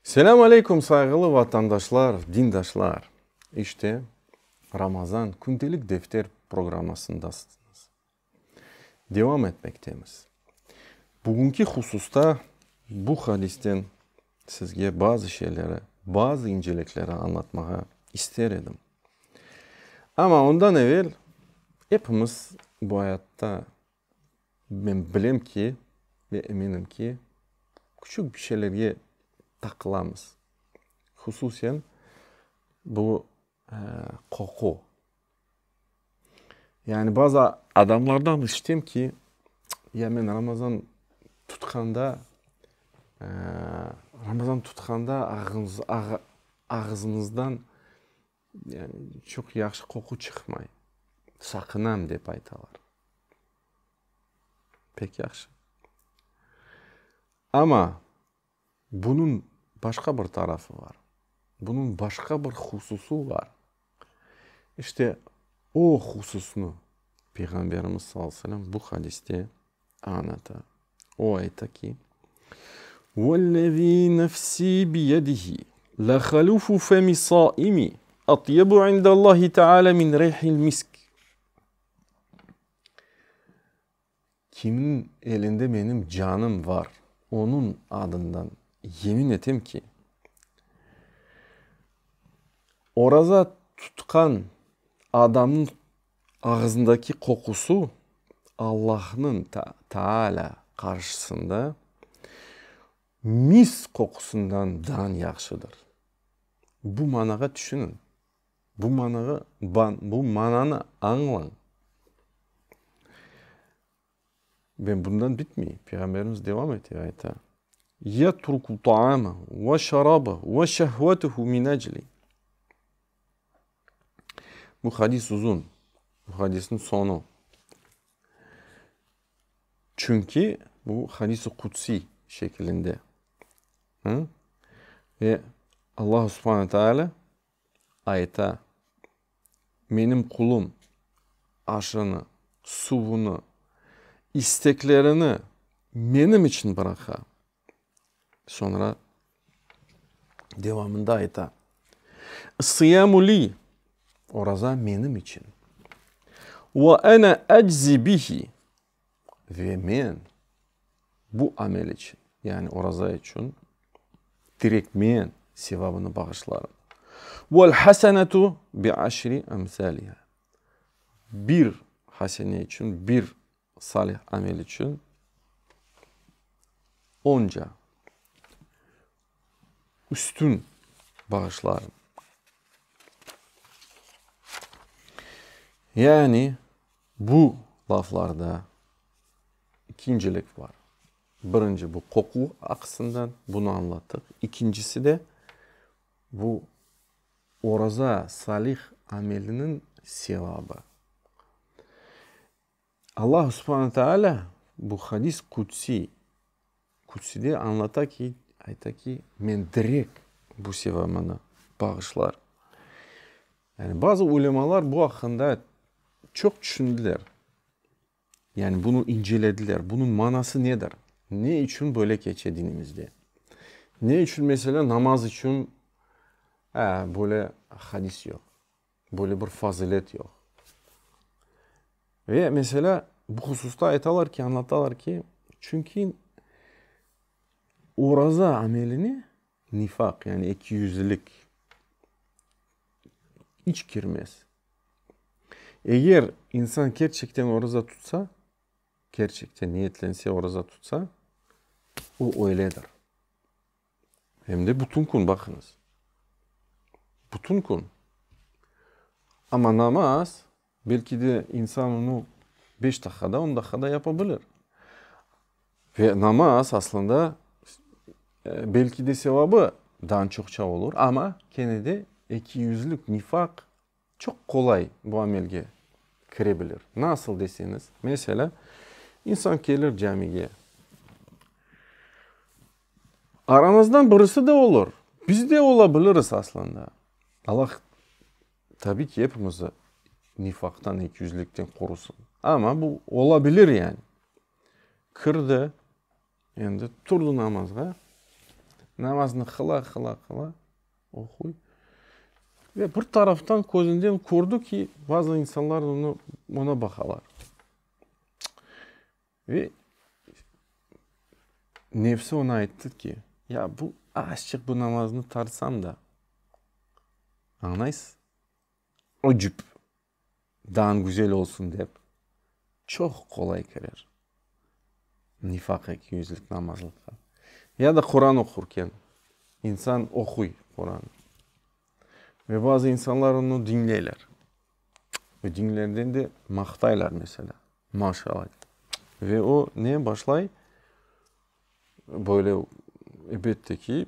Selâm aleyküm, sayğılı vatandaşlar, dindaşlar! İşte, Ramazan Kündelik Defter programmasındasıñız. Devam etmektemiz. Bugünki hususta bu hadisten sizge bazı şeyleri, bazı incelikleri añlatmağa ister edim. Amma ondan evel epimiz bu ayatta Men bilem ki, ve eminim ki, küçük bir şeylerge taqılamız. Hususen, bu qoqu. Yani bazı adamlardan işitem ki, ya men Ramazan tutqanda, Ramazan tutqanda ağzımızdan Çoq yahşı qoqu çıqmay, saqınam, dep aytalar. Pek yahşı. Amma bunıñ başqa bir tarafı bar. Bunıñ başqa bir hususı bar. İşte o hususnı Peyğamberimiz sallallahu aleyhi ve sellem bu hadiste anata. O ayta ki, Vellezî nefsî biyedihi, lehalufu femi saimi atyebu indallâhi teâlâ min rîhil misk. Kimniñ elinde menim canım var, onıñ adından yemin etem ki, oraza tutqan adamnıñ Ağızındaki qoqusu Allahnıñ Taala qarşısında mis qoqusundan dan yahşıdır. Bu manağa tüşüniñ, bu manağa, bu mananı añlañ. Ve bundan bitmey, Peyğamberimiz devam ete, ayta, Yetruku taamahu ve şarabahu ve şehvetuhu min ecli. Bu hadis uzun, bu hadisniñ soñu. Çünki bu hadis-i qudsiy şekilinde. Ve Allahu subhane teâlâ Ayta, Menim qulum aşını, suvunı, isteklerini menim içün bıraqa. Soñra devamında ayta, Sıyamu li, oraza menim içün, ve ene eczi bihi, Ve men bu amel içün, yani oraza içün direk men sevabını bağışlarım. Vel hasenetu bi aşri emsaliha. Bir hasene içün, bir salih amel içün onca üstün bağışlarım. Yani. Bu laflarda ikincilik bar. Birinci, bu qoquv aqısından, bunı añlattıq. İkincisi de, bu oraza, salih ameliniñ sevabı. Alla subhane teala bu hadis qudsiy. Kütside añlata ki, ayta ki, men direk bu sevamını bağışlar. Yani bazı ulemalar bu aqqında çoq tüşündiler. Yani bunı incelediler, bunıñ manası nedir? Ne içün böyle keçe dinimizde? Ne içün, meselâ, namaz içün böyle hadis yoq? Böyle bir fazilet yoq. Ve meselâ, bu hususta aytalar ki, añlatalar ki, çünki oraza amelini nifaq, yani ekiyüzlilik iç kirmez. Eger insan kerçekten oraza tutsa, kerçekten, niyetlense oraza tutsa, o öyledir. Em de bütün kün, baqıñız, bütün kün. Amma namaz, belki de, insan onı beş daqiqada, on daqiqada yapa bilir. Ve namaz, aslında, belki de, sevabı daa çoqça olur, amma kene de ekiyüzlük, nifaq. Çoq qolay bu amelge kire bilir. Nasıl deseñiz, meselâ, insan kelir camige. Aramızdan birisi de olur, biz de ola biliriz aslında. Allah, tabiy ki, epimizni nifaqtan, ekiyüzlükten qorusın. Amma bu ola bilir yani. Kirdi. Endi turdı namazğa. Namaznı qıla-qıla-qıla oquy. Ve bir taraftan közünden kördi ki, bazı insanlar onı, ona baqalar. Ve nefsi ona ayttı ki, ya bu, azçıq bu namaznı tartsam da, añlaysız, öcüp. dan güzel olsun dep, çoq qolay kirer nifaq ekiyüzlik namazlıqqa. Ya da Quran oqurken, insan oquy Quranı ve bazı insanlar onı diñleyler ve diñlerden de maqtaylar, meselâ, maşalâ, ve o ne başlay? Böyle, elbette ki,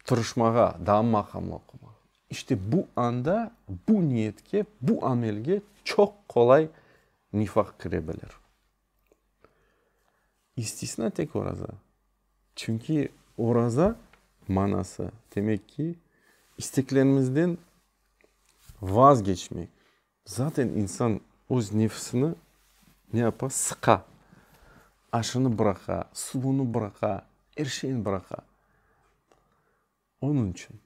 tırışmağa, daa maqamlı oqumağa. İşte bu anda bu niyetke, bu amelge çoq qolay nifaq kire bilir. İstisna tek oraza. Çünki oraza manası, demek ki, isteklerimizden vazgeçmek, Zaten insan öz nefsini ne yapa, sıqa, aşını bıraqa, suvunı bıraqa, er şeyini bıraqa. Onıñ içün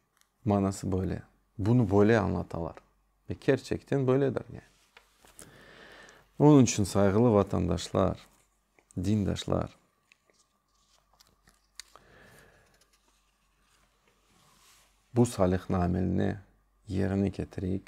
manası böyle. Bunı böyle añlatalar. Ve kerçekten böyledir yani. Onıñ içün, sayğılı vatandaşlar, dindaşlar, bu salihni ameline yerine ketireyik.